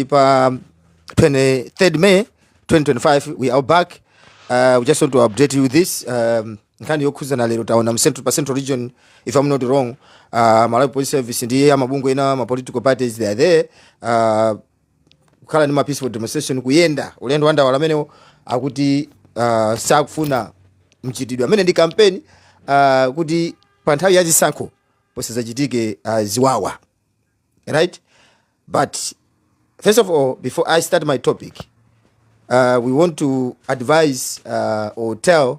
pa 23rd May 2025 we are back uh, we just want to update you this um, nkhani yokhuzana lero taona mcentral pa central region if i'm not wrong uh, malawi police service ndi amabungwe ena ma political parties they are there uh, kukhala ndi ma peaceful demonstration kuyenda ulendo wa ndawala amenewo akuti uh, sakufuna mchitidwe amene ndi kampeni uh, kuti pa nthawi ya zisankho pasadzachitike uh, ziwawa right but first of all before i start my topic uh, we want to advise uh, or tell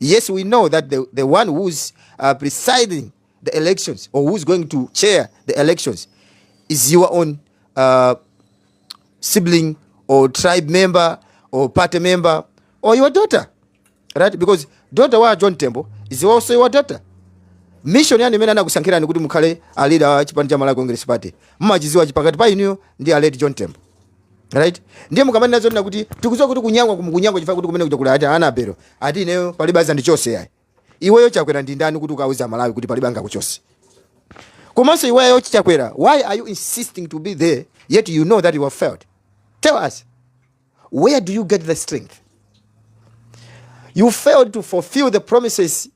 Yes, we know that the, the one who's uh, presiding the elections or who's going to chair the elections is your own uh, sibling or tribe member or party member or your daughter, right? Because daughter wa John Tembo is also your daughter. Mission yani mena nakusankira ni kuti mukhale a leader wa chipani cha Malawi Congress Party. Mmachiziwa chipakati pa inuyo ndi a late John Tembo. Right? Ndiye mukamanena zonena kuti tikudziwa kuti kunyangwa kunyangwa chifukwa kuti kumene kuja kuli ati anabero. Ati ineyo palibe angandichose yayi. Iweyo Chakwera ndi ndani kuti ukauze Amalawi kuti palibe angakuchose. Komanso iweyo Chakwera, why are you insisting to be there yet you know that you have failed? Tell us. Where do you get the strength? You failed to fulfill the promises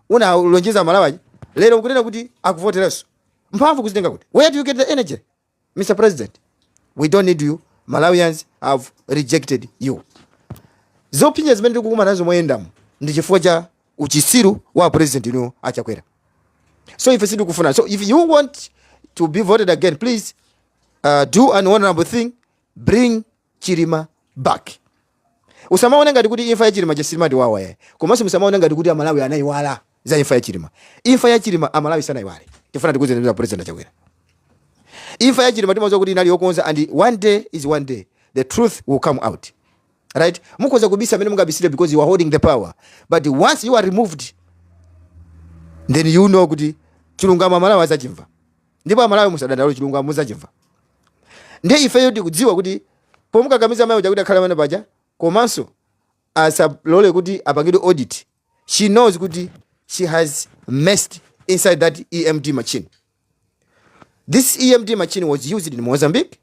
unalonjeza Amalawi. Lero ukunena kuti akuvoteranso. Mphamvu ukuzitenga kuti. Where do you get the energy? Mr President, we don't need you, Malawians have rejected you. Zopinga zimene tikukumana nazo moyendamu ndi chifukwa cha uchisiru wa president inu a Chakwera. So ife sitikukufuna. So if you want to be voted again, please uh, do an honorable thing, bring Chilima back. Usamaone ngati kuti imfa ya Chilima simatiwawa yayi. Komanso musamaone ngati kuti Amalawi anaiwala za imfa ya Chilima. Imfa ya Chilima Amalawi sanaiwale. Tifuna tikuuzeni a president Chakwera. Imfa ya Chilima timaziwa kuti inali yokonza and one day is one day the truth will come out. Right? Mukoza kubisa mmene mungabisire because you are holding the power. But once you are removed then you know kuti chilungamo Amalawi azachimva. ndipo amalawi musadandaule chilungamo muzachimva nde ifeyo tikudziwa kuti pomukakamiza mayi uja kuti akhale pamene paja komanso asalole kuti apangidwe audit she knows kuti she has messed inside that emd machine this emd machine was used in mozambique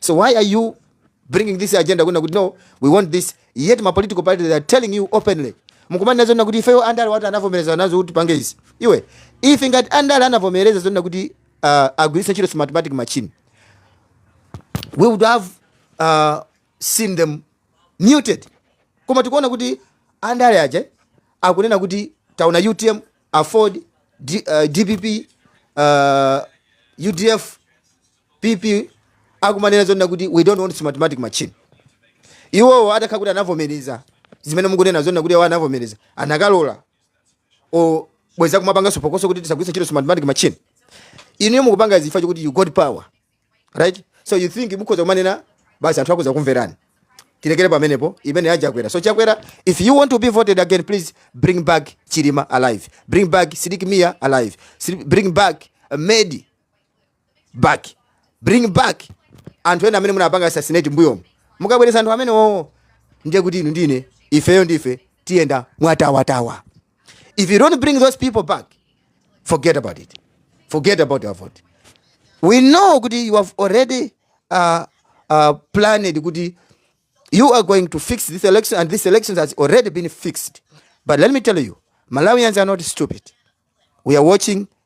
so why are you bringing this agenda kunena kuti no we want this yet ma political parties are telling you openly mukumanena zonena kuti ifeyo andale ati anavomereza nazo kuti tipange izi iwe if ngati andale anavomereza zonena kuti uh, agwiritse ntchito smartmatic machine we would have uh, seen them muted koma tikuona kuti andale aja akunena kuti taona utm afford D, uh, dpp uh, udf PP akumanena zonena kuti we don't want smartmatic machine. Iwowo atakhala kuti anavomereza zimene mukunena zonena kuti iwo anavomereza anakalola obwereza kumapanganso phokoso kuti tisagwiritse ntchito smartmatic machine. Inu mukupanga chifukwa chokuti you got power right so you think mukhoza kumanena basi anthu akhoza kumverani tilekere pamenepo imeneyi a chakwera so chakwera if you want to be voted again please bring back chilima alive bring back sidik mia alive Sidi- bring back uh, medi back bring back anthu ena amene munapanga assassinate mbuyomo mukabweresa anthu amene wowo ndiye kuti inu ndine ifeyo ndife tiyenda mwatawatawa if you don't bring those people back forget about it forget about your vote we know kuti you have already uh, uh, planned kuti you are going to fix this election and this election has already been fixed but let me tell you malawians are not stupid we are watching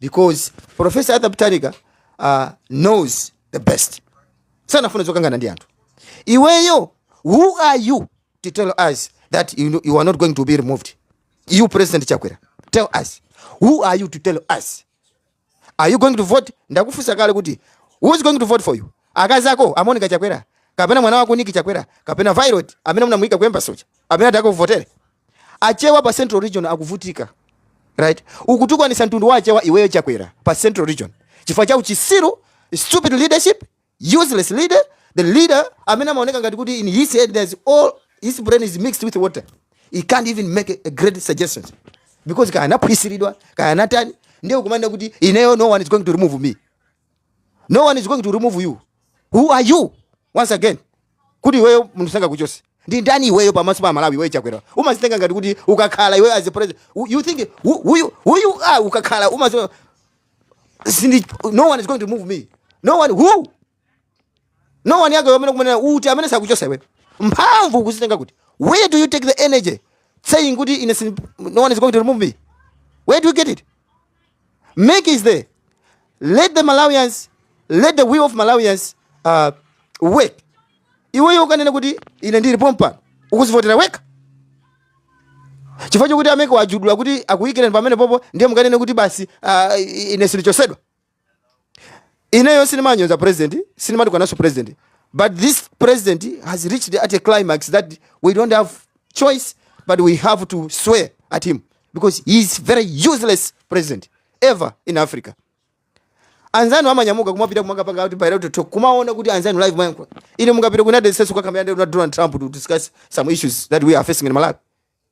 because professor arthur peter mutharika uh, knows the best sanafuna zokangana ndi anthu iweyo who are you to tell us that you are not going to be removed you president chakwera tell us who are you to tell us are you going to vote ndakufunsa kale kuti who is going to vote for you akazako amonika chakwera kapena mwana wako niki chakwera kapena violet amene munamuyika ku embassy uja amene atakakuvotere Achewa pa central region akuvutika right. Ukutukwanisa mtundu wa achewa iweyo chakwera pa central region chifukwa cha uchisiru, stupid leadership, useless leader, the leader amene amaoneka ngati kuti in his head there's all his brain is mixed with water he can't even make a great suggestion because kaya anaphwisiridwa kaya anatani ndiye ukumanena kuti ineyo no one is going to remove me no one is going to remove you who are you once again kuti iweyo munthu sangakuchose ndiwe ndani iweyo pamaso pa malawi iweyo chakwera umazitenga ngati kuti ukakhala iweyo as a president you think who you, who you are ukakhala umati no one is going to remove me no one who no one yake amene ukumanena kuti amene sakuchosa iwe mphamvu ukuzitenga kuti where do you take the energy saying kuti ine sin, no one is going to remove me where do you get it MEC is there let the malawians let the will of malawians uh, work iweyo ukanena kuti ine ndili pompano ukuzivotera weka chifukwa chokuti a MEC wawajudula kuti akuyikire pamenepopo ndiye mukanene kuti basi uh, ine sindichosedwa ineyo sindimanyoza president sindimatukanaso president but this president has reached at a climax that we don't have choice but we have to swear at him because he is very useless president ever in africa anzanu amanyamuka kumapita kumakapanga kuti bilateral talk kumaona kuti anzanu live mayankho ine mungapita ku united states kukakambirana ndi donald trump to discuss some issues that we are facing in malawi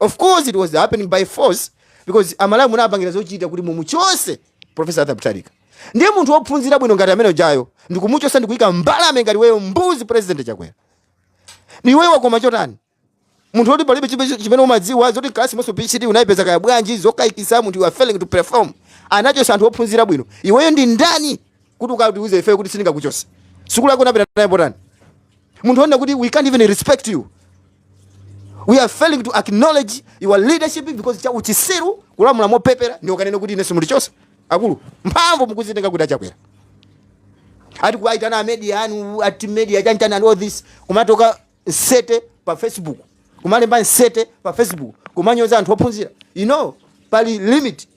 of course it was happening by force because amalawi munapangira zochita kuti mumuchose profesa arthur mutharika ndiye munthu wophunzira bwino ngati amene ujayo ndikumuchosa ndikuyika mbalame ngati iweyo mbuzi president chakwera iweyo wakoma chotani munthu woti palibe chipe- chimene umadziwa zaku klasi komanso phd unayipeza kaya bwanji zokayikisa munthu you are failing to perform anachosa anthu ophunzira bwino iweyo ndi ndani kuti ukatiuze ifeyo kuti simungandichose sukulu yako unapita nayo potani munthu wonena kuti we can't even respect you we are failing to acknowledge your leadership because cha uchisiru kulamula mopepera ndiye ukanene kuti ine simundichosa akulu mphamvu mukuzitenga kuti achakwera ati kuwaitana amedia anu ati media chanichani and all this kumatoka nsete pa facebook kumalemba nsete pa facebook kumanyoza anthu ophunzira you know pali limit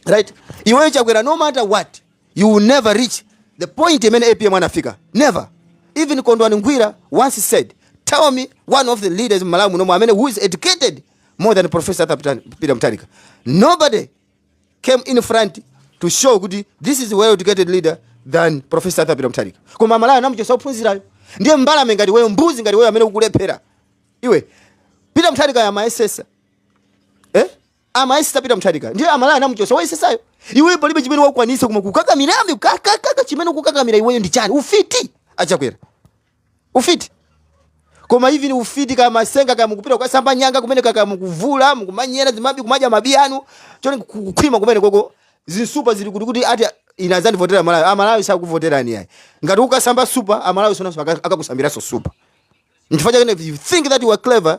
right iweyo chakwera no matter what you will never reach the point imene apm anafika never even kondwani nankhumwa once said tell me one of the leaders in malawi munomo amene who is educated more than professor Arthur Peter- peter mutharika nobody came in front to show kuti this is a well educated leader than professor Arthur peter mutharika koma malawi anamuchotsa ophunzirayo ndiye mbalame ngati iweyo mbuzi ngati iweyo amene ukulephera iwe peter mutharika amayesesa eh? amayesesa peter mutharika ndiye amalawi anamuchosa woyesesayo iweyo palibe chimene wakwanisa koma kukakamirabe kakakaka chimene ukukakamira iweyo ndi chani ufiti achakwera ufiti koma ivi ni ufiti kumasenga kumapita kwa samba nyanga kumene kaka mukuvula mukumanyera zimanyi kumadya manyi anu chonde kukhwima kumenekoko zinsupa zili kuti kuti ati ine azandivotera amalawi amalawi sakuvoterani yayi ngati ukusamba super amalawi nawonso akakusambiraso super nchifukwa chake if you think that you are clever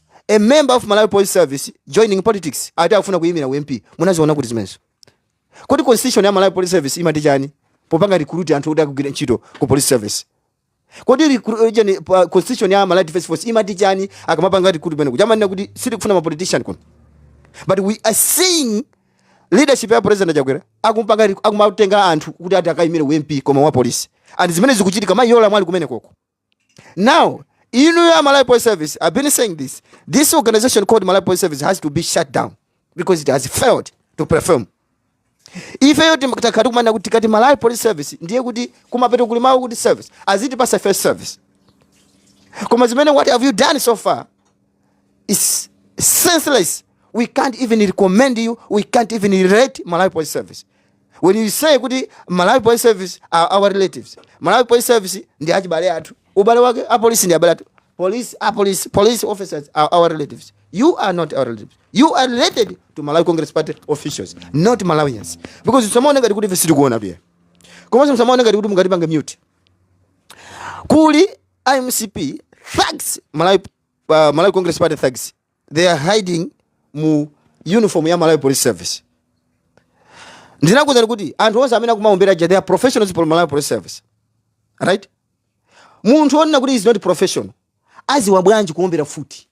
A member of Malawi Police Service joining politics ati akufuna kuyimira u MP. Munaziona kuti zimenezo? Kodi constitution ya Malawi Police Service imati chani? Popanga recruit anthu kuti akagwire ntchito ku police service. Kodi recru- eh, chani, pa- constitution ya Malawi Defense Force imati chani akamapanga recruit pano? Kuja amanena kuti sitikufuna ma politician kuno. But we are seeing leadership ya president Chakwera akumapanga ri- akumatenga anthu kuti ati akayimire u MP koma wa police. And zimene zikuchitika mayi yola mwali kumenekoko. Now, you know your Malawi Police Service, I've been saying this. This organization called Malawi Police Service has to be shut down because it has failed to perform. If you think that Kaduma na kuti kati Malawi Police Service, ndiye kuti kumapeto kuli mawu kuti service, as it pass a first service. Koma zimene what have you done so far? is senseless. We can't even recommend you. We can't even rate Malawi Police Service. When you say kuti Malawi Police Service are our relatives, Malawi Police Service ndi achibale athu. Ubale wake a police ndi abale athu. Police, a police, police officers are our relatives. You are not our relatives. You are related to Malawi Congress Party officials, not Malawians. Musamaone ngati kuti ivi sitikuona iyayi. Komanso msamaone ngati kuti mungatipange mute. Kuli MCP thugs Malawi uh, Malawi Congress Party thugs they are hiding mu uniform ya Malawi Police Service ndinakuuzani kuti anthu onse amene akumaombera aja they are professionals for Malawi Police Service right munthu onena kuti is not professional aziwa bwanji kuombera mfuti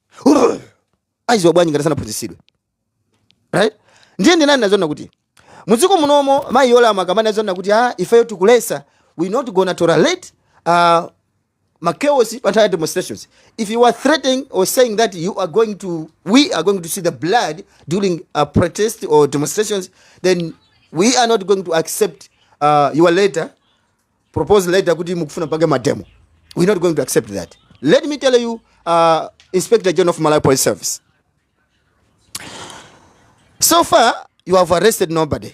aziwa bwanji ngati sanaphunzitsidwe right ndiye ndinani nazona kuti mudziko munomo mayi yolama kamani azona kuti ah, ifeyo tikulesa we not gonna tolerate uh, makeosi pa nthawi ya demonstrations if you are threatening or saying that you are going to we are going to see the blood during a protest or demonstrations then we are not going to accept uh, your letter proposal letter kuti mukufuna pange mademo we're not going to accept that let me tell you uh, inspector general of malawi police service so far you have arrested nobody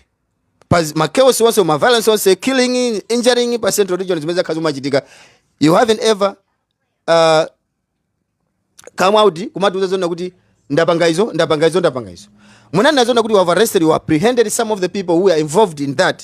pa zi- ma chaos onse ma violence onse killing injuring pa central region zimene zakhala zikuchitika you haven't ever uh, come out kumatiuza zona kuti ndapanga izo ndapanga izo ndapanga izo munanena zoona kuti you have arrested or apprehended some of the people who are involved in that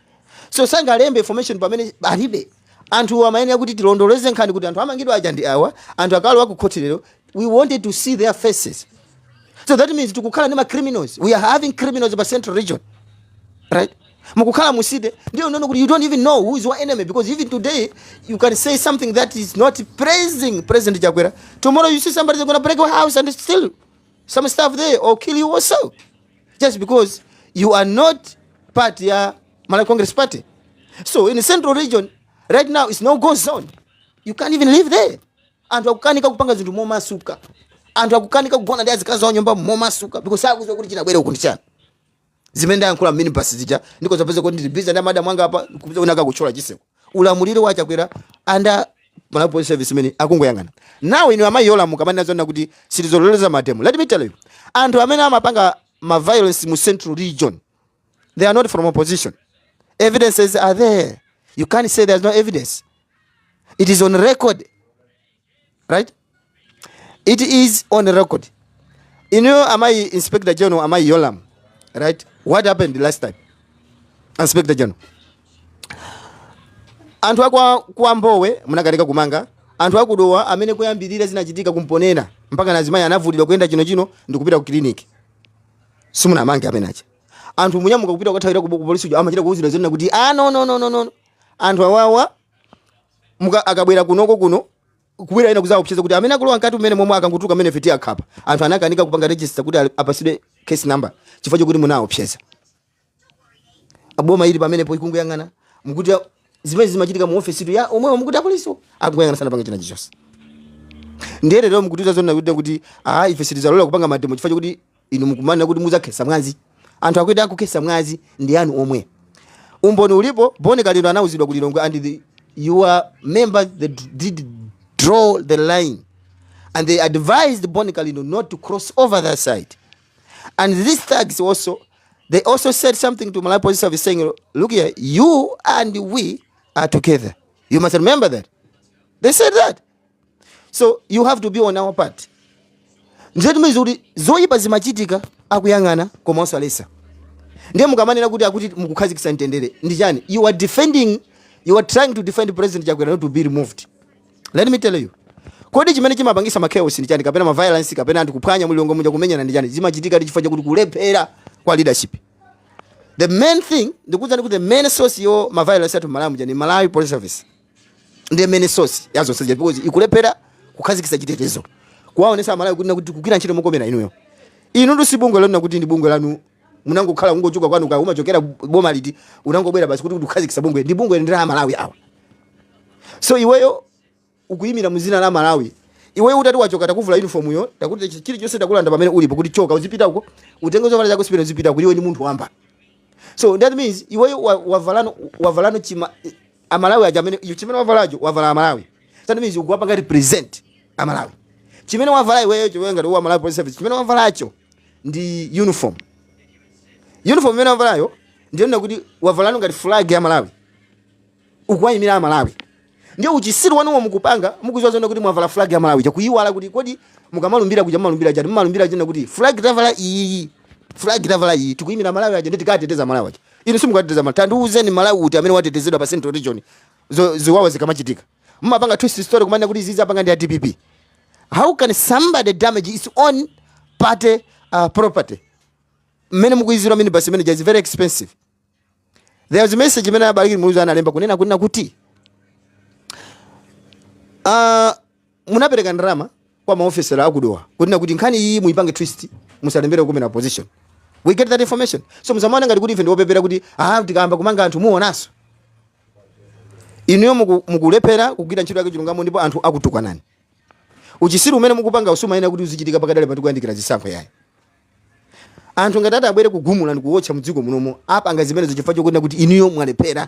so sangalembe information pamene alibe anthu amayenera kuti tilondoleze nkhani kuti anthu amangidwa aja ndi awa anthu akalowa ku khoti lero we wanted to see their faces so that means tikukhala ndi ma criminals we are having criminals pa central region right mukukhala mu city yonena kuti you don't even know who is your enemy because even today you can say something that is not praising president chakwera tomorrow you see somebody is going to break your house and steal some stuff there or kill you also just because you are not part ya Malawi Congress Party. So in the central region right now it's no go zone. You can't even live there. Anthu akukanika kupanga zinthu momasuka. Anthu akukanika kugona ndi azikazi awo m'nyumba momasuka because sakuziwa kuti chingabwere uku ndi chani. Zimene ndayankhula minibus zija ndi kudzapeza kuti ndili busy ndi madam anga apa kupeza wina akuthyola chiseko. ulamuliro wa achakwera and a malawi police service imene akungoyang'ana now inu amayi yolamu mukamanena zonena kuti sitizalolezanso mademo let me tell you anthu amene amapanga ma violence mu central region they are not from opposition evidences are there you can't say there's no evidence it is on record right it is on record inuyo amayi inspector general amayi yolamu right what happened last time inspector general anthu akwa kwa mbowe munakanika kumanga anthu akudowa amene kuyambirira zinachitika ku mponela mpaka azimayi anavulidwa kuyenda chino chino ndikupita ku clinic simunamange amene aja anthu kunyamuka kupita kukathawira ku polisi uja amachita kuuzidwa zonena kuti ah no no no no no anthu awawa muka akabwera kunoko kuno kubwera ena kuzaopseza kuti amene akulowa mkati umene momwe akangotuluka amenewo timukhapa anthu anakanika kupanga register kuti ali- apasidwe case number chifukwa chokuti munaopseza boma lili pamenepo likungoyang'ana mukuti a- zimene zimachitika mu office tu ya omwewa mukuti apolisiwo akungoyang'ana sanapange china chichonse ndiye lero mukutiuza zonena kuti kuti ah ife sitizalola kupanga mademo chifukwa chokuti Inu mukumanena kuti mudzakhetsa mwazi. Anthu akuti akukhetsa mwazi ndi anu omwe. Umboni ulipo, Bon Kalindo anauzidwa ku Lilongwe and the, your members they did draw the line and they advised Bon Kalindo not to cross over that side. And these thugs also, they also said something to Malawi Police Service saying, look here, you and we are together. You must remember that. They said that. so you have to be on our part ndiye mukudziwa kuti zoyipa zimachitika akuyang'ana koma osalesa ndiye mukamanena kuti akuti mukukhazikisa mtendere ndi chani you are defending you are trying to defend president chakwera not to be removed let me tell you kodi chimene chimapangisa ma chaos ndi chani kapena ma violence kapena anthu kuphwanya mu lilongwe muja kumenyana ndi chani zimachitika ndi chifukwa chakuti kulephera kwa leadership the main thing ndikuwuzani kuti the main source ya ma violence athu malawi muja ni malawi police service ndi imene source ya zonse zija because ikulephera kukhazikitsa chitetezo kuwaonesa amalawi kuti ikukugwira ntchito mokomera inuyo inuyo si bungwe lanu kuti ndi bungwe lanu munangokhala kungochoka kwanu kaya umachokera boma liti unangobwera basi kuti kuti ukhazikitse bungwe ili bungwe ndi la amalawi awa so iweyo ukuyimira mu zina la malawi iweyo utati wachoka takuvula uniform yo takuti chilichonse takulanda pamene ulipo kuti choka uzipita uko utenge zovala zako zipita uzipita kuti iwe ni munthu wamba so that means iweyo wa- wavalano wavalano chima amalawi aja amene iwe chimene wavalacho wavala Malawi that means ukuwapanga represent aMalawi chimene wavala iweyo iweyo ngati wa malawi police service chimene wavalacho ndi uniform uniform imene wavalayo ndiyonena kuti wavalano ngati flag ya malawi ukuwayimira amalawi ndiye uchisiru wanuwo mukupanga mukuziwa zona kuti mwavala flag ya malawi mukuyiwala kuti kodi mukamalumbira kuja mumalumbira chani mumalumbira china kuti flag tavala iyi flag tavala iyi tikuyimira aMalawi aja ndi tikateteza aMalawi aja Inu simukateteza Malawi. Tandiuzeni Malawi uti amene watetezedwa pa Central Region zo, ziwawa zikamachitika? Mmapanga twist story kumanena kuti izizi apanga ndi a DPP. How can somebody damage his own party uh, property? Mmene mukuiziwira minibus imene ija is very expensive. There was a message imene a Bakili Muluzi analemba kunena kunena kuti uh, munapereka ndalama kwa maofesala a ku Dowa kunena kuti nkhani iyi muyipange twist musalembere kunena opposition we get that information so musamaone ngati kuti ife ndiopepera kuti ah tikayamba kumanga anthu muonaso inuyo muku- mukulephera kugwira ntchito yake chilungamo ndipo anthu akutukwanani uchisiru umene mukupanga sumayenera kuti uzichitika pakadali pano tikuyandikira zisankho yayi anthu ngati atabwere kugumula ndikuwotcha mdziko munomo apanga zimenezo chifukwa chokuona kuti inuyo mwalephera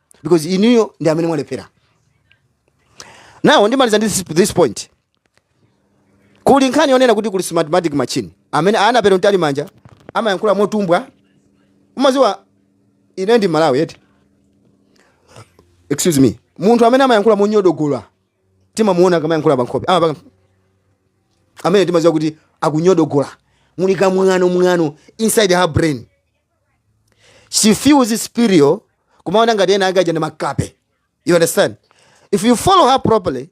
because inuyo ndi amene mwalephera now ndimaliza ndi this, this point kuli nkhani yonena kuti kuli smartmatic machine amene Annabel Mtalimanja amayankhula motumbwa umaziwa ine ndi mMalawi eti excuse me munthu amene amayankhula monyodogola timamuona akamayankhula pankhope amapanga amene timaziwa kuti akunyodogola muli kamwano mwano inside her brain she feels superior kumaona ngati ena ake ajana makape you understand if you follow her properly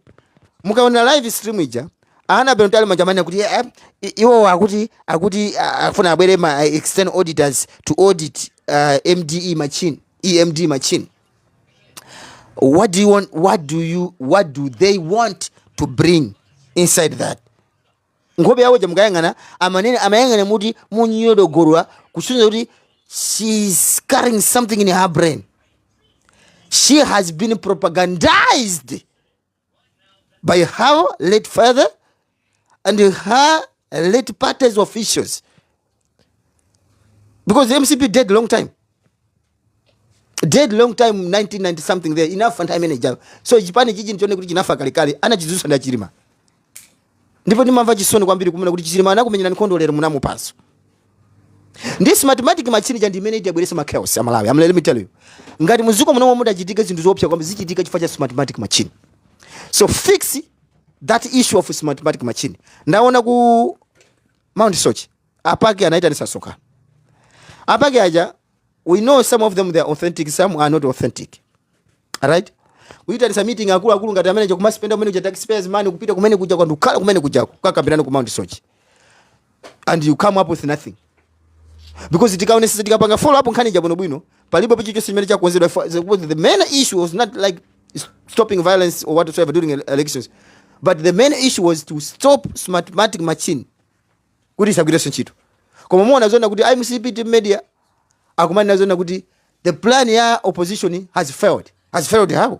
mukaona live stream ija ana beno tali majamani akuti eh, eh, iwo akuti akuti ah, afuna abwere ma eh, external auditors to audit uh, MDE machine EMD machine what do you want what do you what do they want to bring inside that nkhope yawo ja mukayang'ana amanene amayang'ana muti munyodogolwa kusonyeza kuti she is carrying something in her brain she has been propagandized by her late father and her late party's officials because the mcp dead long time dead long time 1990 something there inafa nthawi imene ijayo so chipani chichi ndi chonena kuti chinafa kalekale anachizutsa ndi a Chilima ndipo ndimamva chisoni kwambiri kunena kuti Chilima anakumenyera nkhondo lero munamuphanso ndi smartmatic machine ija ndimene idzabweretsa machaos aMalawi let me tell you ngati muziko munomwe muzachitika zinthu zoopsa kwambiri zichitika chifukwa cha smartmatic machine so fix that issue of smartmatic machine ndaona ku mount soche apake anaitanisa msonkhano apake aja we know some of them they are authentic some are not authentic right kuitanisa meeting akuluakulu ngati amene kumaspenda kumene kuja taxpayers money kupita kumene kuja kukakhala kumene kuja kukakambirana ku mount soche and you come up with nothing because tikaonesesa tikapanga follow up nkhani ija bwinobwino palibe chilichonse chimene chakonzedwa chifukwa the- because the main issue was not like s- stopping violence or whatsoever during ele- elections but the main issue was to stop smartmatic machine kuti isagwirenso ntchito koma muona zona kuti a MCP team media akumanena zona kuti the plan ya opposition has failed has failed how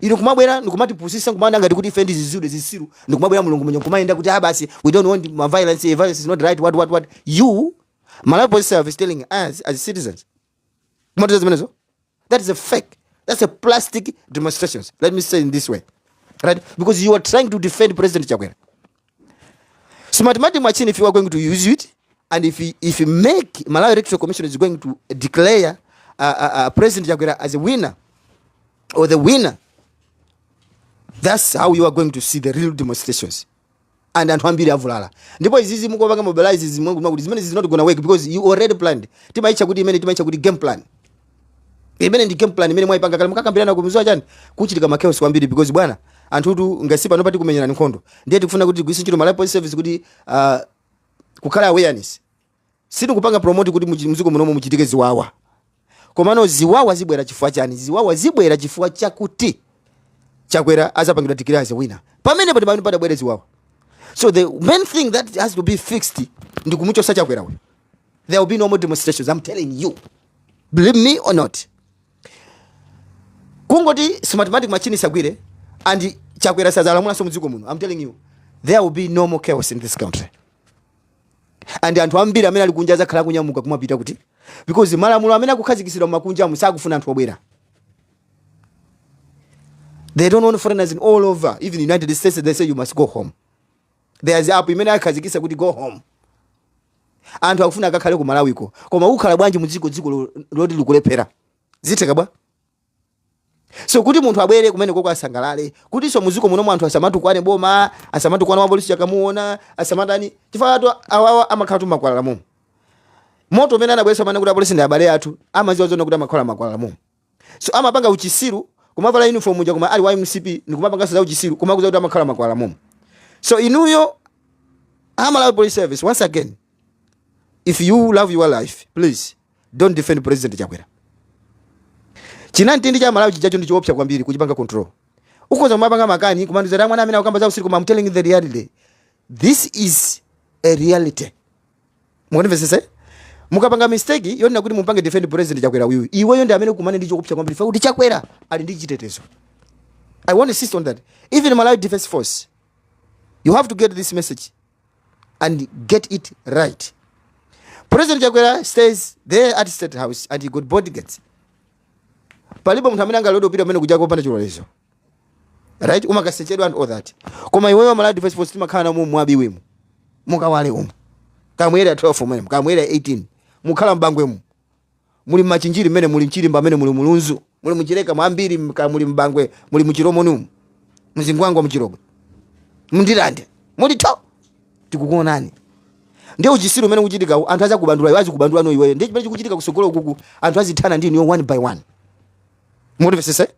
inu kumabwera ndikumatipusisa nkumaona ngati kuti ife ndi zizidole zisiru ndikumabwera mulungu umeneu kumayenda kuti basi ah, we don't want ma violence eh, violence is not right what what what you malawi police service is telling us as citizens kumatiuza zimenezo that is a fake that's a plastic demonstrations let me say in this way right because you are trying to defend president chakwera So mathematics machine, if you are going to use it, and if you, if you make Malawi Electoral Commission is going to declare uh, uh, uh, President Chakwera as a winner or the winner, that's how you are going to see the real demonstrations. and anthu ambiri avulala ndipo izizi mukopanga mobilize zimwe kuti zimene zizinoti gonna work because you already planned timaitcha kuti imene timaitcha kuti game plan imene ndi game plan imene mwaipanga kale mukakambirana mukuziwa chani kuchitike ma chaos kwambiri because bwana anthutu ngati pano pati kumenyana nkhondo ndiye tikufuna kuti tigwiritse ntchito malawi police service kuti uh, kukhala awareness sitikupanga promote kuti muchi- mziko munomo muchitike ziwawa komano ziwawa zibwera chifukwa chani ziwawa zibwera chifukwa chakuti chakwera azapangidwa declare as a winner pamene pati pamene pazabwere ziwawa so the main thing that has to be fixed ndi kumuchosa chakwera we there will be no more demonstrations i'm telling you believe me or not kungoti smartmatic machine isagwire and chakwera sazalamulanso mdziko muno i'm telling you there will be no more chaos in this country and anthu ambiri amene ali kunja azakhala kunyamuka kumapita kuti because malamulo amene akukhazikitsidwa mmaiko akunjamu sakufuna anthu obwera they don't want foreigners in all over even united states they say you must go home there's a app imene akhazikisa kuti go home anthu akufuna akakhale ku malawiko koma ukhala bwanji mudziko dziko lo- loti likulephera zitheka bwa so kuti munthu abwere kumene koko asangalale kutinso muziko munomu anthu asamatukwane boma asamatukwane wapolisi yakamuona asamatani chifukwa atu awawa amakhala tu makwalala momo moto umene anabweresa mane kuti apolisi ndi abale athu amaziwa zona kuti amakhala makwalala momo So amapanga uchisiru kumavala uniform uja koma ali wa mcp ndikumapanganso za uchisiru kumakuuza kuti amakhala makwalala momo so inuyo amalawi police service once again if you love your life please don't defend president chakwera chinamtindi cha amalawi chijacho ndi choopsa kwambiri kuchipanga control ukhoza kumapanga makani kumanditcha mwana amene akukamba zausiru koma I'm telling you the reality this is a reality mukundimvetsetse mukapanga mistake yonena kuti mupange defend president chakwera uyu iweyo ndi amene ukumane ndi choopsa kwambiri chifukwa choti chakwera ali ndi chitetezo i want to insist on that even malawi defense force you have to get this message and get it right president chakwera stays there at state house and he got bodyguards palibe munthu amene angalote kupita kumene kuja kopanda chilolezo right umakasechedwa and all that koma iweyo amalawi defense force timakhala na mu mwabi wemu mukawale umu kaya mu area 12 mwemu kaya mu area 18 mukhala mbangwemu muli machinjiri mmene muli mchirimba mmene muli mulunzu muli muchileka mwambiri mka- muli mbangwe muli muchilomonimu mzingwangwa muchilobwe mndirande mulitu tikukuonani ndiye uchisiru umene ukuchitika anthu azakubandula iwe azikubandula no iweyo ndiye chimene chikuchitika kusogoloku anthu azithana ndi inuyo one by one mundimvesese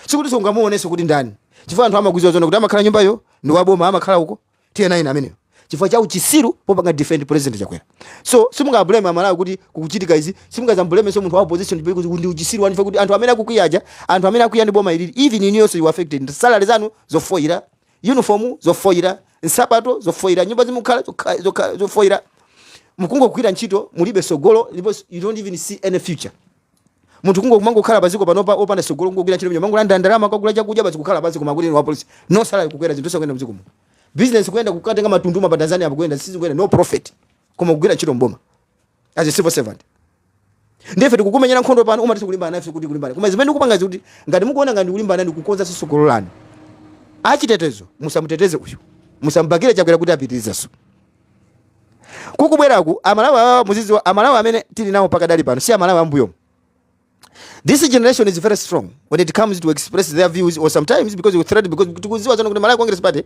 sikuti sungamuonenso kuti ndani chifukwa anthu amakuziwa zoona kuti amakhala nyumbayo ndi waboma amakhala uko tiye naine ameneyo chifukwa cha uchisiru popanga defend president chakwera so simungablame amalawi kuti kukuchitika izi simungazambulemenso munthu wa opposition kuti ndi uchisiru waniwa kuti anthu amene akukwiyaja anthu amene akwiya ndi boma ilili even iniyonso you affected salary zanu zofoyira uniform zofoyira nsapato zofoyira nyumba zimukhala zokha- zokha- zofoyira mukungogwira ntchito mulibe sogolo ndipo you don't even see any future munthu kungo kumangokhala paziko panopa opanda sogolo kungogwira ntchito kumangolanda ndalama kukagula chakudya basi kukhala pasi koma kuti wa police no salary kukwera zinthu zosakuyenda mdziko muno business kuyenda kukatenga makatundu pa Tanzania apo kuyenda sisi kuyenda no profit koma kugwira ntchito mboma as a civil servant ndefe tikukumenyera nkhondo pano umati tikulimbana nafe kuti kulimbana koma zimene ndikupanga kuti ngati mukuona ngati kulimbana ndi kukonza tsogolo lanu achitetezo musamuteteze uyu musambakire chakwera kuti apitirizenso kukubweraku amalawi awawa muziziwa amalawi amene tili nawo pakadali pano si amalawi ambuyo this generation is very strong when it comes to express their views or sometimes because you threat because tikuziwa zoona kuti malawi congress party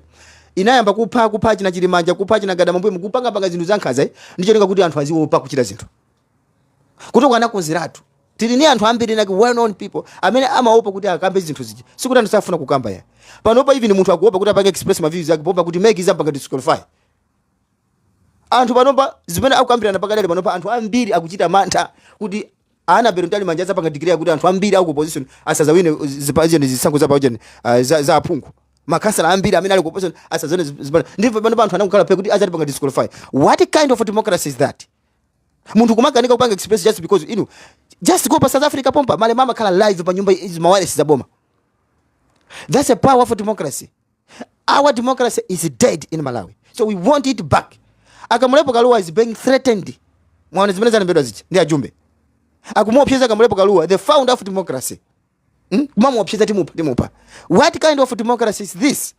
inayamba kupha kupha achina Chilumanja kupha achina Gadama mbuyo mukupanga panga zinthu zankhaza eh? ndi cholinga kuti anthu aziwopa kuchita zinthu kuti ukanakonzeratu tili ni anthu ambiri like well known people amene amaopa kuti akambe zinthu zija sikuti anthu safuna kukamba ya panopa even munthu akuopa kuti apange express ma views ake poopa kuti MEC izampanga disqualify anthu panopa zimene akukambirana pakadali panopa anthu ambiri akuchita mantha kuti Annabel Mtalimanja azapanga declare kuti anthu ambiri aku opposition asazawine uh, zipajeni zisankho za pajeni uh, za, za aphungu makansala ambiri amene ali ku opposition asazone ndipo panopa anthu angokhala phee kuti azatipanga disqualify what kind of democracy is that munthu kumakanika kupanga express just because inu just go pa south africa pompa Malema amakhala live pa nyumba izi mawalesi za boma that's a power of democracy our democracy is dead in malawi so we want it back akamulepo kaluwa is being threatened mwaona zimene zalembedwa izi ndi ajumbe akumuopseza kamulepo kaluwa the founder of democracy hmm? kumamuopseza timupha timupha what kind of democracy is this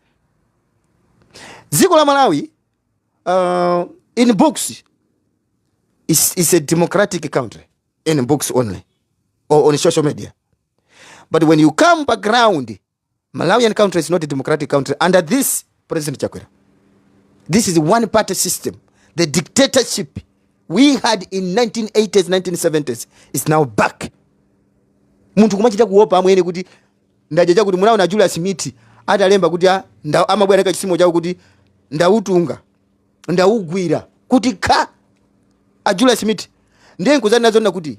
dziko la malawi uh, in books is, is a democratic country in books only or on social media but when you come pa ground Malawian country is not a democratic country under this President Chakwera. This is one party system. The dictatorship we had in 1980s, 1970s is now back. Munthu kumachita kuopa amwene kuti ndajacha kuti munaona a Julius Mithi atalemba kuti ah, amabwera ka chisimo chawo kuti ndautunga ndaugwira kuti ka a Julius Mithi ndiye nkuzani nazo kuti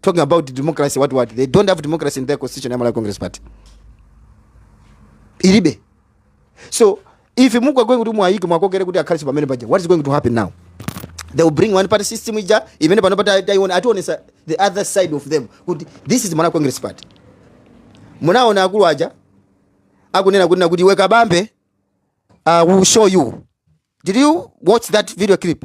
talking about democracy what what they don't have democracy in their constitution ya malawi congress party ilibe so if you are going kuti mwayike mwakokere kuti akhale pamene paja what is going to happen now they will bring one party system uja amene pano pati taiona ationesa the other side of them kuti this is malawi congress party munaona akulu aja akunena kunena kuti iwe kabambe uh, we'll show you did you watch that video clip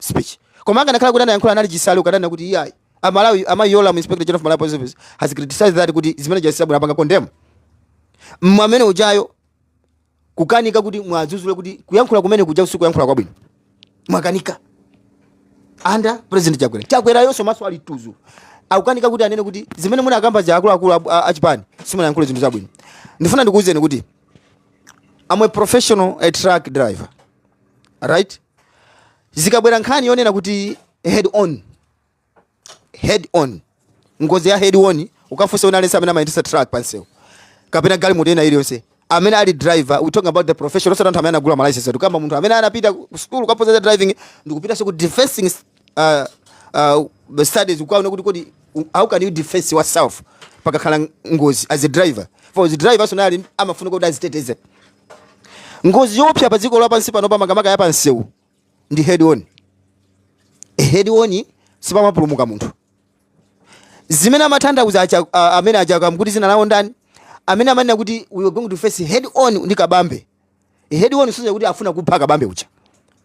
speech. Koma akanakhala kuti anayankhula anali chisale akananena kuti iyayi. Amalawi amayi Yolamu Inspector General of Malawi Police Service has criticized that kuti zimene Jessie Kabwila apanga condemn. Mwamene ujayo kukanika kuti mwadzuzule kuti kuyankhula kumene kuja usiku kuyankhula kwabwino. Mwakanika. Under President Chakwera. Chakwerayonso maso ali tuzu. Akukanika kuti anene kuti zimene munakakamba za akuluakulu a- a- achipani simunayankhule zinthu zabwino. Ndifuna ndikuwuzeni kuti I'm a professional a truck driver. Right? zikabwera nkhani yonena kuti head on head on ngozi ya head on ukafunsa wina aliyense amene amayendesa truck pansewu kapena galimoto ina iliyonse amene ali driver we talking about the profession osati anthu amene anagula ma license tikukamba munthu amene anapita ku school kukaphunzira driving ndikupitanso ku defensing uh, uh, studies kukaona kuti kodi how can you defense yourself pakakhala ngozi as a driver for the driver personally amafuna kuti aziteteze ngozi yoopsa pa dziko lapansi pano pamakamaka ya pansewu ndi head on e head on sipamapulumuka munthu zimene amatanthauza acha- a- amene a Chakamkuti dzina lawo ndani amene amanena kuti we are going to face head on ndi kabambe head on zoona kuti afuna kupha kabambe uja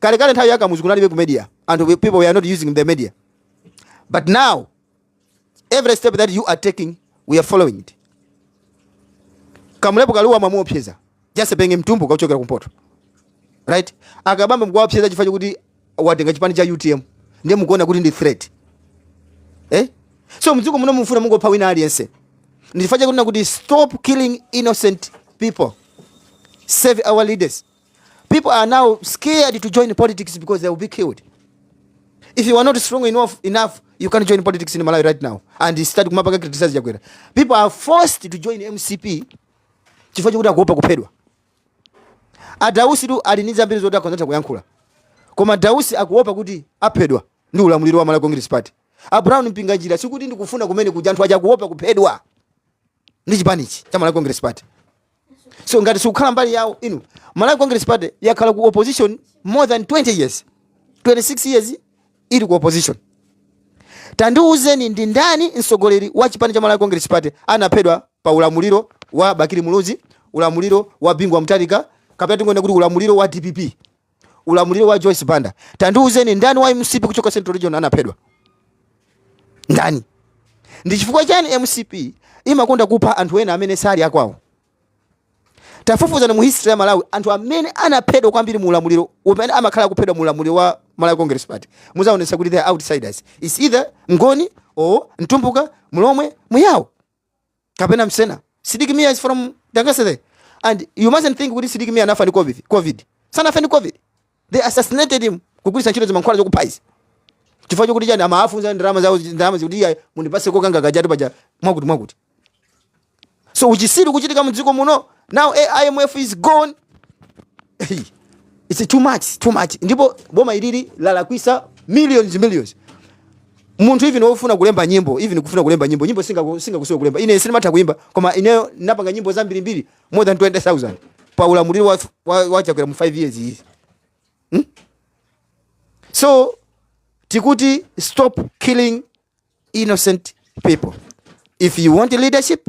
kale kale nthawi ya kamuzu kunalibe ku media anthu we- people were not using the media but now every step that you are taking we are following it kamulepo kaluwa mwamuopseza just pena ndi mtumbuka wochokera kumpoto right akabambe mukuwaopseza chifukwa chokuti watenga chipani cha utm ndiye mukuona kuti ndi threat eh? so mdziko muno mufuna muzingopha wina aliyense ndichifukwa chake ndikuti stop killing innocent people save our leaders People are now scared to join politics because they will be killed. If you are not strong enough, enough you can join politics in Malawi right now and start kumampanga criticize Chakwera. People are forced to join MCP chifukwa chokuti akuopa kuphedwa. A Dausitu ali ndi zambiri zoti akhoza kutha kuyankhula. Koma Dausi akuopa kuti aphedwa ndi ulamuliro wa Malawi Congress Party. A Brown Mpinganjira sikuti ndikufuna kumene kuja anthu aja akuopa kuphedwa. ndi chipanichi cha malawi congress party so ngati simukukhala mbali yawo inu malawi congress party yakhala ku opposition more than 20 years 26 years ili ku opposition tandiuzeni ndi ndani mtsogoleri wa chipani cha malawi congress party anaphedwa pa ulamuliro wa bakili muluzi ulamuliro wa bingu wa mutharika kapena tingonena kuti ulamuliro wa dpp ulamuliro wa Joyce Banda. Tandiuzeni ndani wa MCP kuchoka Central Region anaphedwa? Ndani? Ndi chifukwa chani MCP imakonda kupha anthu ena amene sali akwawo? Tafufuzani mu history ya Malawi anthu amene anaphedwa kwambiri mu ulamuliro umene amakhala akuphedwa mu ulamuliro wa Malawi Congress Party. Muzaonesa kuti they are outsiders. It's either Mngoni or Mtumbuka, Mlomwe, Muyao. kapena msena sidik mia is from Dangasede and you mustn't think kuti sidik mia anafa ndi covid sanafe ndi covid they assassinated him kugwiritsa ntchito zimankhwala zokuphera izi chifukwa chokuti chani amafunsa ndalama zawo ndalama zikuti iya mundipase kokanga kajatu paja mwakuti mwakuti so uchisiru kuchitika mu dziko muno now IMF is gone it's too much too much ndipo boma ilili lalakwisa millions millions munthu even ofuna kulemba nyimbo even kufuna kulemba nyimbo nyimbo singa singakusowe kulemba ine sindimatha kuimba koma ineyo ndinapanga nyimbo zambiri mbiri more than 20000 pa ulamuliro wa wa, wa chakwera mu 5 years izi hmm? so tikuti stop killing innocent people if you want leadership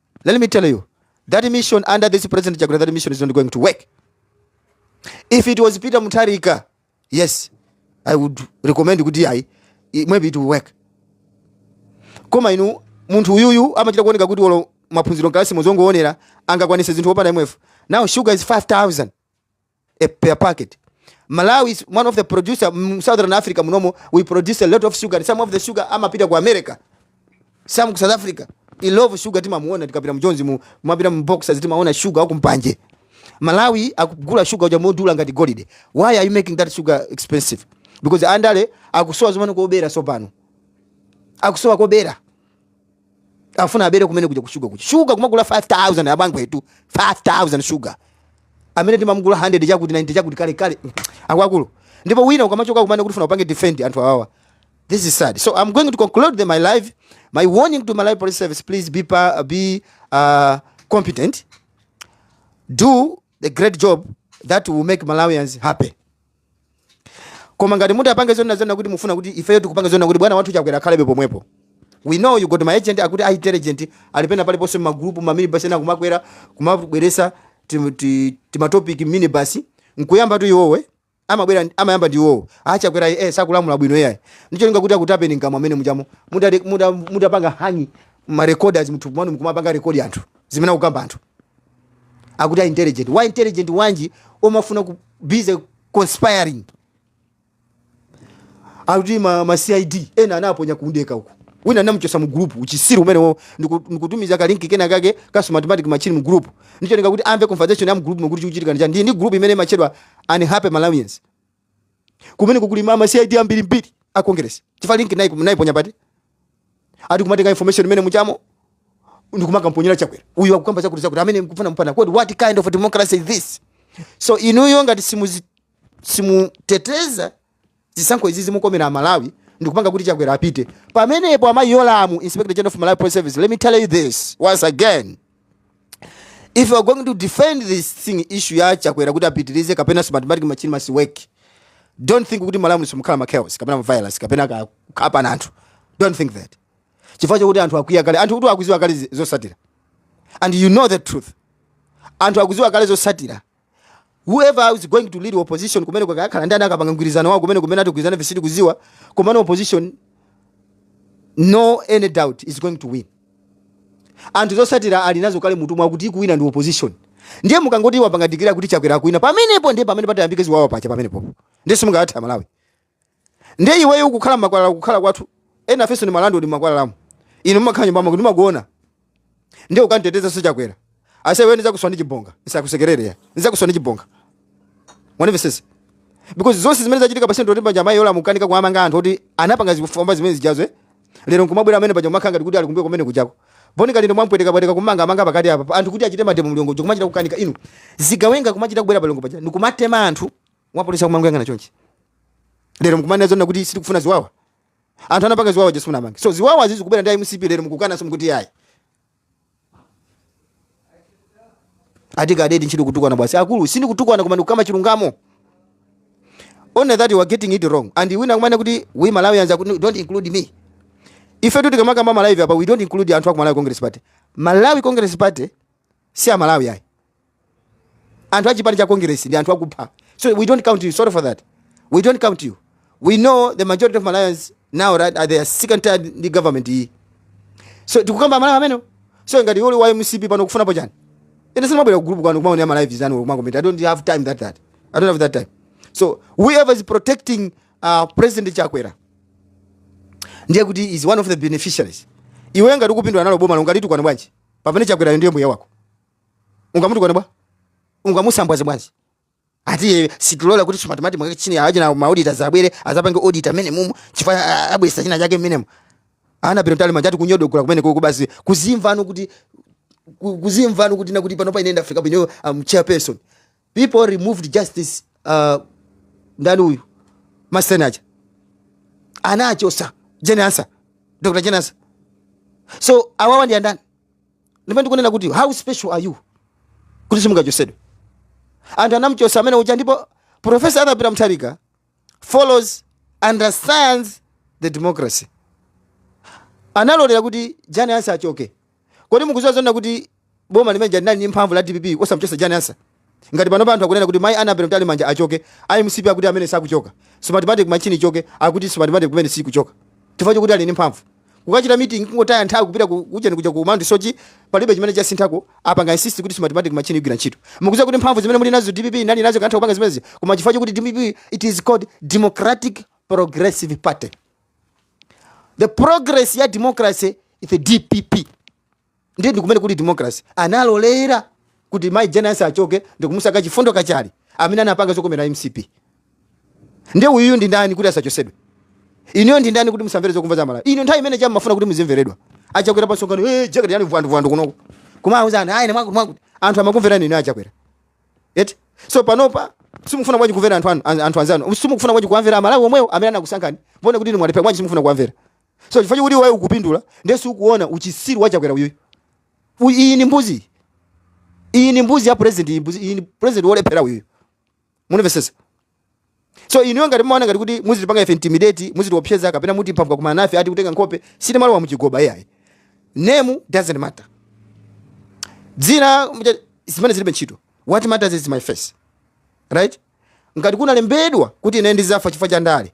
Let me tell you, that mission under this President Chakwera, that mission is not going to work. If it was Peter Mutharika, yes, I would recommend kuti ayi, i- maybe it will work. Koma inu munthu uyuyu amachita kuoneka kuti olo maphunziro mkalasi muzongoonera angakwanise zinthu opanda IMF. Now sugar is 5000. a per packet. Malawi is one of the producer mm, Southern Africa munomo we produce a lot of sugar and some of the sugar amapita ku America some ku South Africa Illovo sugar timamuona tikapita mjonzi mukapita mu boxers timaona sugar uko mpanje Malawi akugula sugar uja modula ngati golide why are you making that sugar expensive because andale akusowa zomwe kubera so pano akusowa kobera afuna abere kumene kuja kushuga kuja shuga kumagula 5000 abale wathu 5000 shuga amene timamugula 100 chakuti 90 chakuti kale kale akwakulu ndipo wina ukamachoka kumane kuti funa upange defend anthu awawa this is sad so i'm going to conclude the, my live my warning to malawi police service please be, pa, be uh, competent do the great job that will make malawians happy koma ngati munthu apange zonna zonna kuti mufuna kuti ifeyo tikupanga zonna kuti bwana wathu chakwera akhalebe pomwepo we know you got ma agent akuti a intelligent ali pena paliponse magrupu maminibus ena kumakwera kumabweresa timatopic minibus nkuyamba tu iwowe amabwera ndi- amayamba ndi iwowo achakwera eh, sakulamula bwino iyayi ndicholinga kuti akutapeni mkamwa amene mujamo mutapanga muta, muta mutapanga hang marecorders mthupu mwanu mkumapanga rekodi anthu zimene akukamba anthu akuti a intelligent wa intelligent wanji omafuna ku busy conspiring akuti ma, ma cid ena anaponya kundege uko wina anamuchosa mu group uchisiru umenewo ndiku- ndikutumiza ka link kena kake ka smartmatic machine mu group ndicholinga kuti amve conversation ya mu group mukuti chikuchitika ndi chani. ndi ndi group imene machedwa unhappy malawians kumeneku kuli mama cid ambiri mbiri a congress chifukwa link nayiponya pati ati kumatenga information imene muchamo ndikumakamuponyera chakwera uyu akukamba chakuti chakuti amene mkufuna mupana kodi what kind of democracy is this so inuyo ngati simuzi- simuteteza Zisankho izi zimukomera amalawi ndikupanga kuti chakwera apite pamenepo amayi yolamu inspector general of malawi police service let me tell you this once again if you are going to defend this thing issue ya chakwera kuti apitirize kapena smartmatic machine must work don't think kuti malawi simukhala ma chaos kapena ma violence kapena ka- kuphana anthu don't think that chifukwa chakuti anthu akwiya kale anthu kuti akuziwa kale zi- zosatira and you know the truth anthu akuziwa kale zosatira whoever is going to lead opposition kumeneko akakhala ndani akapanga mgwirizano wao kumeneko mmene atigwirizana ife sitikuziwa komano opposition no any doubt is going to win anthu zosatira ali nazo kale mmutu mwawo kuti akuwina ndi opposition ndiye mukangoti mwapanga declare kuti chakwera akuwina pamenepo ndiye pamene patayambike ziwawa pacha pamenepo ndiye simungatha malawi Ndiye iweyo ukukhala mmakwalala kukhala kwathu. Ena afenso ndi malandlord mmakwalalamu. Inu mumakhala nyumba mwako ndimakuona. Ndiye ukamtetezenso Chakwera. Ase iwe ndizakuswa ndi chibonga. Ndisakusekerere ya. Ndizakuswa ndi chibonga. Mwanimvesese. Because zonse zimene zachitika pa Central ndi paja amayi Yolamu akanika kuwamanga anthu oti anapanga zifwamba zimene zijazo eh. Lero nkumabwera amene paja kumakhala ngati kuti ali kumbuyo kumene kujako. Bon Kalindo mwampweteka pweteka kumanga amanga pakati apa. Anthu kuti achite mademo mLilongwe kumachita kukanika inu. Zigawenga kumachita kubwera pa Lilongwe paja. Ndikumatema anthu apolisi akumangoyang'ana chonchi lero mkumanena zoona kuti sitikufuna ziwawa anthu anapanga ziwawa aja simufuna amange so ziwawa izi zikubwera ndi mcp lero mkukana simukuti yayi ati kadeti ntchito kutukwana basi akulu sindikutukwana koma ndikukamba chilungamo only that you are getting it wrong and wina akumanena kuti we malawians aku- don't include me ifetu tikamakamba malawi apa we don't include anthu aku malawi congress party malawi congress party si amalawi ayi anthu achipani cha congress ndi anthu akupha so we don't count you sorry for that we don't count you we know the majority of malawians now right are they are sick and tired ndi government iyi so tikukamba amalawi amenewo so ngati uli wa mcp pano ukufunapo chani ine sinabwera ku group kwanu kumaonera ma live anu kumakomenta i don't have time that that i don't have that time so whoever is protecting uh, president chakwera ndiye kuti is one of the beneficiaries iwe ngati ukupindula nalo bomalo ungalitukwane bwanji pamene chakwerayo ndiye mbuye wako ungamutukwane bwa ungamusambwaze bwanji ati sitilola kuti smartmatic machine achina ma auditor azabwere azapange audit mmenemu chifukwa abwesa china chake mmenemo annabel mtalimanja ati kunyodogola kumeneku basi kuzimvano kuti kuzimvano kuti nakuti pano paine ndafika pano am um, chairperson people removed justice uh, ndani uyu masenaja anachosa jane ansah dr jane ansah so awawa ndi andani ndipo ndikunena kuti how special are you kuti simungachosedwe anthu anamuchosa amene uja ndipo professor arthur peter mutharika follows understands the democracy analolera kuti jane ansah achoke kodi mukuziwa zonena kuti boma limene lija linali ndi mphamvu la dpp osamuchosa jane ansah ngati panopa anthu akunena kuti mai annabel mtalimanja achoke a mcp akuti amene sakuchoka smartmatic machine ichoke akuti smartmatic imene sikuchoka chifukwa chokuti ali ndi mphamvu kukachita meeting kungotaya nthawi kupita ku ujeni kuja ku Mount Soche palibe chimene chasinthako apanga insist kuti smartmatic machine igwira ntchito mukuziwa kuti mphamvu zimene muli nazo DPP inali nazo ikanatha kupanga zimenezi koma chifukwa chokuti DPP it is called Democratic Progressive Party the progress ya democracy is the DPP ndiye ndikumene kuli democracy analolera kuti mai jane ansah achoke ndikumusankha chifundo kachale amene anapanga zokomera mcp ndiye uyuyu ndi ndani kuti asachosedwe inuyo ndi ndani kuti musamvere zokhumba za amalawi inu nthawi imene ija mumafuna kuti muzimveredwa achakwera pamsonkhano hey, eh, jakati yani vwandu kunoko koma auzani ayine mwakuti mwakuti anthu amakumverani inu achakwera eti so panopa simufuna bwanji kumvera anthu anu anthu anzanu simufuna bwanji kuwamvera amalawi omwewo amene anakusankhani mbone kuti inu mwalephera bwanji simufuna kuwamvera so chifukwa chokuti iweyo ukupindula ndiye sukuona uchisiru wa chakwera uyuyu U- iyi ni mbuzi iyi ni mbuzi ya president iyi mbuzi- iyi ni president wolephera uyuyu munimvesesa so inuyo ngati mumaona ngati kuti muzitipanga ife intimidate muzitiopseza kapena mutipha mkakumana nafe ati kutenga nkhope sinimalowa muchigoba iyayi name doesn't matter dzina mja- zimene zilibe ntchito what matters is my face right ngati kunalembedwa kuti ine ndizafa chifukwa cha ndale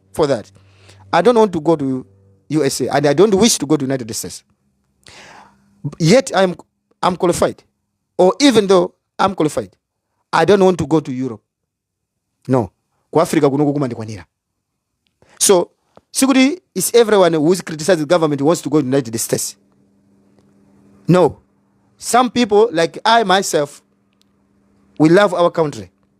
for that i don't want to go to usa and i don't wish to go to united states yet i'm, I'm qualified or even though i'm qualified i don't want to go to europe no ku africa kuno kukumandikwanira so sikuti is everyone who is criticizing the government wants to go to united states no some people like i myself we love our country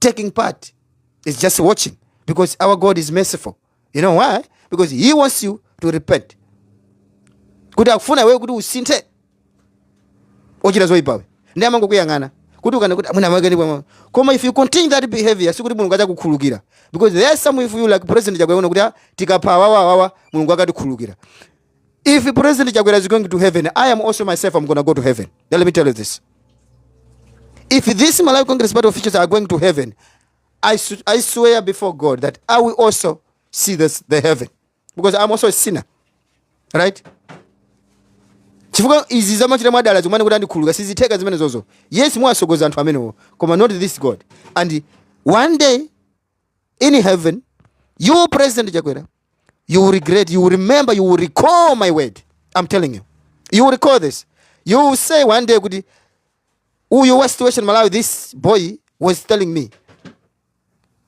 taking part. He's just watching because our God is merciful. You know why? Because He wants you to repent. kuti akufuna iweyo kuti usinthe ochita zoyipawe ndiye amangokuyang'ana kuti ukana kuti amuna amake ndipo koma if you continue that behavior sikuti mulungu adzakukhululukira because there is some of you like president Chakwera amaona kuti ah, tikapha awawa awawa mulungu akatikhululukira If President Chakwera is going to heaven, I am also myself, I'm going to go to heaven. Now, let me tell you this. If these Malawi Congress Party officials are going to heaven, I, I swear before God that I will also see this, the heaven. Because I'm also a sinner. Right? chifukwa izi zamachita mwadala zomwe kuti andikhululuka sizitheka zimene zozo yes mwasogoza anthu amenewo koma not this god and one day in heaven you president chakwera you will regret you will remember you will recall my word i'm telling you you will recall this you will say one day kuti uyu wa situation malawi this boy was telling me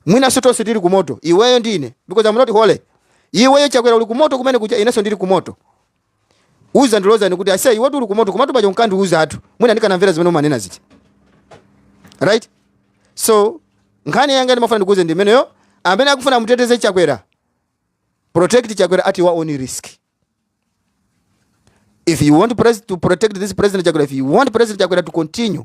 mwinanso tonse tili kumoto iweyo ndi ine because i'm not holy iweyo chakwera uli kumoto kumene kuja inenso ndili kumoto Uzandiloza ine kuti aise iwe tili kumoto komatu paja unkandiuzatu. Mwina ndikanamvera zimene umanena zija. Right? So nkhani yanga ndimafuna ndikuuze ndi imeneyo amene akufuna muteteze Chakwera. Protect Chakwera at your own risk. If you want pres to protect this president Chakwera, if you want president Chakwera to continue